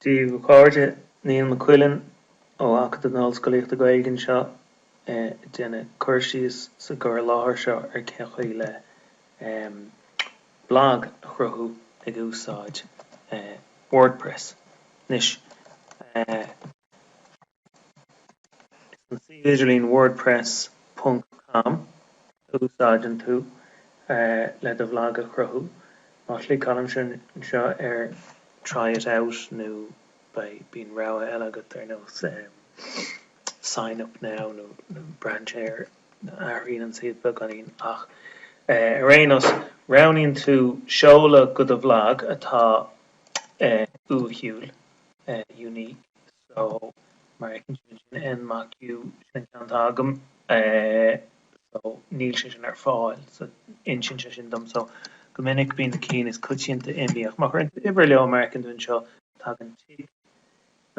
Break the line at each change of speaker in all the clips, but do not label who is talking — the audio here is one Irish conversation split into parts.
Dia dhaoibh a chairde, Niall Mac Cuilinn ó Acadamh na hOllscolaíochta Gaeilge anseo ag déanamh cur síos sa gcur i láthair seo ar cén chaoi le blag a chruthú ag úsáid WordPress. Anois. An suíomh idirlín wordpress ponc com a úsáideann tú le do bhlag a chruthú. Má chliceálann sibh anseo ar try it out nó beidh bíonn rogha eile agat ar nós sign up now nó braitheann sé air athraíonn an suíomh beagáinín ach ar aon nós roghnaíonn tú seoladh go do bhlag atá uathúil, unique. So, mar a fheiceann sibh ansin n Mac U, sin an ceann atá agam. So, níl sé sin ar fáil. So, insíonn sé sin dom. So, go minic bíonn na cinn is coitianta imíthe ach má chuireann tú uimhir leo, mar a fheiceann tú anseo, tagann tic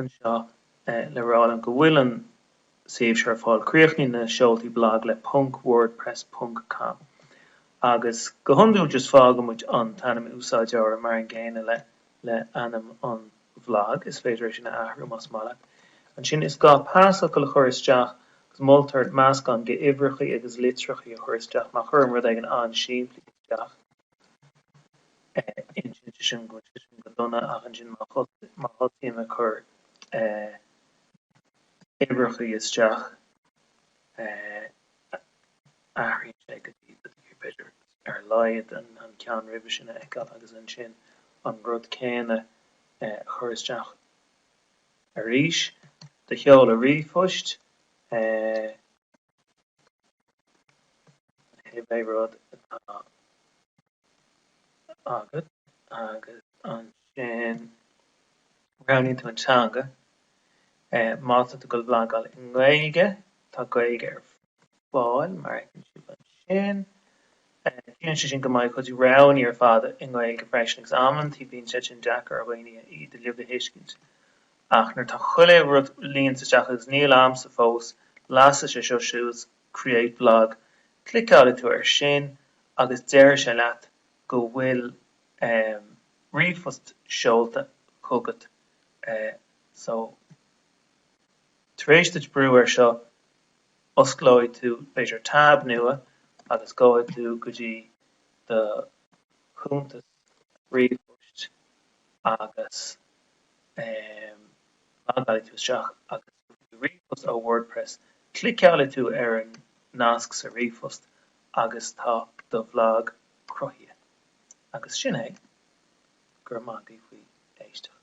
anseo le rá liom go bhfuil an suíomh seo ar fáil. Críochnaíonn na seoltaí blag le ponc wordpress ponc com agus go hiondúil just fágaimid an t-ainm úsáideora mar an gcéanna le le ainm an bhlag. Is féidir é sin a athrú más maith leat. Ansin, is gá pasfhocal a chur isteach agus moltar meascán de uimhreachaí agus litreachaí a chur isteach. Má chuirim rud éigin an-simplí isteach, insíonn sé sin go bhfuil sé sin go dona ach ansin má thosaím ag cur uimhreachaí isteach, athraíonn sé go dtí b'fhéidir ar a laghad an ceann roimhe sin a fheiceáil agus ansin an rud céanna a chur isteach arís. Do sheoladh ríomhphoist cibé rud atá. agat agus ansin roghnaíonn tú an teanga. Má tá tú ag goil ag blagáil i nGaeilge, tá Gaeilge ar fáil mar a fheiceann sibh ansin. Ciallaíonn sé sin go mbeidh cuid de na roghanna ar fad i nGaeilge freisin agus amantaí bíonn sé sin deacair ar dhaoine iad uilig a thuiscint. Ach nuair atá chuile rud líonta isteach agus níl agamsa fós, lasfaidh sé seo suas Create Blog, cliceálfaidh tú air sin agus déarfaidh sé leat go bhfuil ríomhphost seolta chugat so tar éis duit brú air seo osclóidh tú b'fhéidir tab nua agus gabhfaidh tú go dtí do chuntas. ríomhphoist agus logálann tú isteach agus ríomhphost ó WordPress. Cliceálann tú ar an nasc sa ríomhphost agus tá do bhlag cruthaithe. Agus sin é. Go raibh maith agat faoi d'éisteacht.